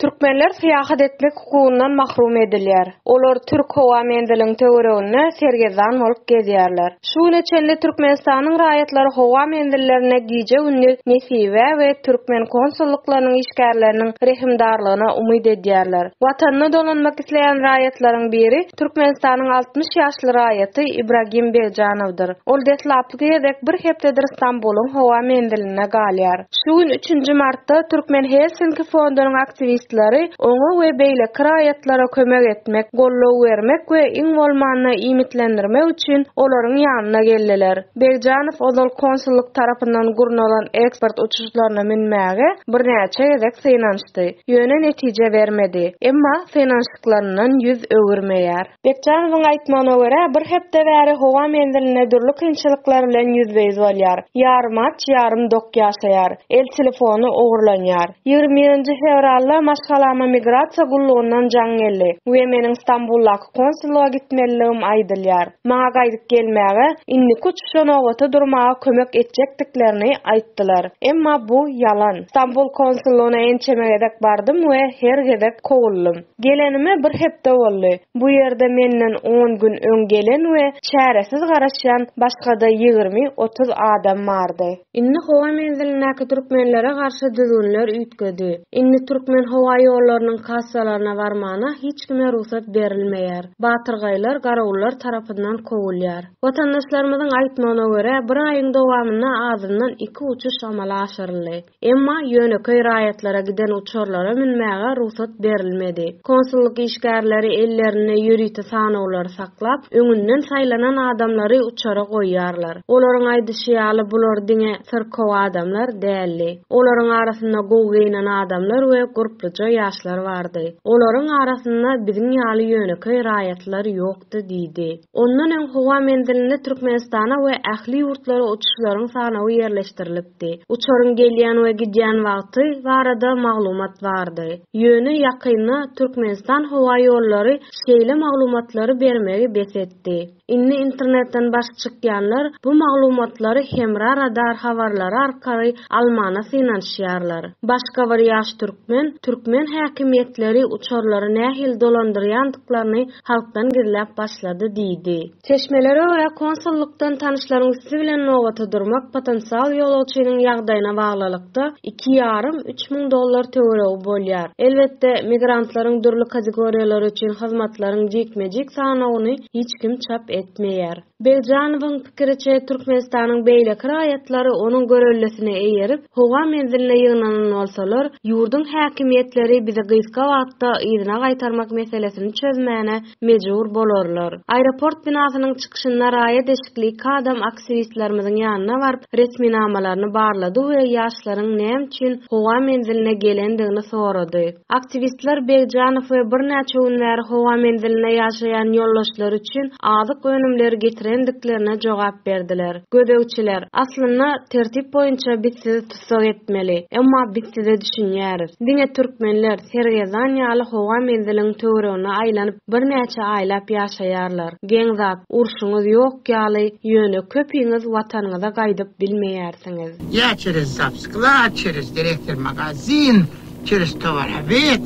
Türkmenler syýahat etmek hukugyndan mahrum edilýär. Olar türk howa menziliniň töwereginde sergezdan bolup gezýärler. Şu güne çenli Türkmenistanyň raýatlary howa menzillerinde gije-gündiz nesibä we türkmen konsullyklarynyň işgärleriniň rehimdarlygyna umyt edýärler. Watanyna dolanmak isleýän raýatlaryň biri Türkmenistanyň altmyş ýaşly raýaty Ibragim Begjanowdyr. Ol deslapky gezek bir hepdedir Stambulyň howa menzilinde galýar. Şu gün, üçünji martda, Türkmen Helsinki fondunyň aktiwistleri oňa we beýleki raýatlara kömek etmek, goldaw bermek we iň bolmanda iýmitlendirmek üçin olaryň ýanyna geldiler. Begjanow ozal konsullyk tarapyndan gurnalan eksport uçuşlaryna münmäge birnäçe gezek synanyşdy. çalyşdy. Ýöne netije bermedi. Emma synanyşyklaryndan ýüz öwürmeýär. Bekjanowyň aýtmagyna görä, bir hepde bäri howa menzilinde dürli kynçylyklar bilen ýüzbe-ýüz bolýar. Ýarym aç, ýarym dok ýaşaýar. El telefony ogurlanýar. Ýigrimi birinji fewralda maşgalama migrasiýa gullugyndan jaň geldi we meniň Stambuldaky konsullyga gitmelidigim aýdylýar. maňa gaýdyp gelmäge, indiki uçuşa nobata durmaga kömek etjekdiklerini aýtdylar. Emma bu ýalan. Stambul konsullygyna ençeme gezek bardym we her gezek kowuldym. Gelenime bir hepde boldy. Bu ýerde menden on gün öň gelen we çäresiz garaşýan başga-da ýigrimi, otuz adam bardy. Indi howa menzilindäki türkmenlere garşy düzgünler üýtgedi. Indi türkmen howa ýollarynyň kassalaryna barmana hiç kime rugsat berilmeýär. Batyrgaýlar garawullar tarapyndan kowulýar. Watandaşlarymyzyň aýtmagyna görä, bir aýyň dowamynda azyndan iki uçuş amala aşyryldy. Emma ýönekeý raýatlara giden uçarlara münmäge rugsat berilmedi. Konsullyk işgärleri ellerinde ýörite sanawlary saklap, öňünden saýlanan adamlary uçara goýýarlar. Olaryň aýdyşy ýaly, bular diňe syrkaw adamlar däldi. Olaryň arasynda gowy geýnen adamlar we gurpluja ýaşlar bardy. Olaryň arasynda biziň ýaly ýönekeý raýatlar ýokdy diýdi. Ondan öň howa menzilinde Türkmenistana we ähli ýurtlara uçuşlaryň sanawy ýerleşdirilipdi. Uçaryň gelýän we gidýän wagty barada maglumat bardy. Ýöne ýakynda Türkmenistan howa ýollary şeýle maglumatlary bermegi bes etdi. Indi internetden baş çykýanlar bu maglumatlary Hemra Radar habarlary arkaly almana synanyşýarlar. Başga bir ýaş türkmen, Türkmen häkimiýetleri uçarlary nähili dolandyrýandyklaryny halkdan gizläp başlady diýdi. Çeşmelere görä, konsullykdan tanyşlaryň üsti bilen nobata durmak potensial ýolagçynyň ýagdaýyna baglylykda, aralykda iki ýarym, üç müň dollar töweregi bolýar. Elbetde, migrantlaryň dürli kategoriýalary üçin hyzmatlaryň jikme-jik sanawyny hiç kim çap etmeýär. Begjanowyň pikiriçe, Türkmenistanyň beýleki raýatlary onuň göreldesine eýerip, howa menziline ýygnanan bolsalar, ýurduň häkimiýetleri bizi gysga wagtda yzyna gaýtarmak meselesini çözmäne mejbur bolarlar. Aeroport binasynyň çykyşynda raýa deşikli iki adam aktiwistlerimiziň ýanyna baryp, resminamalaryny barlady we ýaşlaryň näme üçin howa menziline gelendigini sorady. Aktiwistler Begjanow we birnäçe gün bäri howa menzilinde ýaşaýan ýoldaşlary üçin azyk önümleri getirendiklerine jogap berdiler. Gözegçiler, Aslynda, tertip boýunça biz sizi tussag etmeli. Emma biz size düşünýäris. Diňe türkmenler Sergezan ýaly howa menziliniň töweregine aýlanyp birnäçe aýlap ýaşaýarlar. Geň zat, urşuňyz ýok ýaly, ýöne köpiňiz watanyňyza gaýdyp bilmeýärsiňiz. Ýa çerez zapskla, çerez direktor magazin, çerez tovar obed,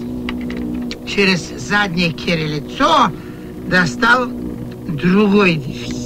çerez zadnýe kere litso, dostal drugoý defitsit.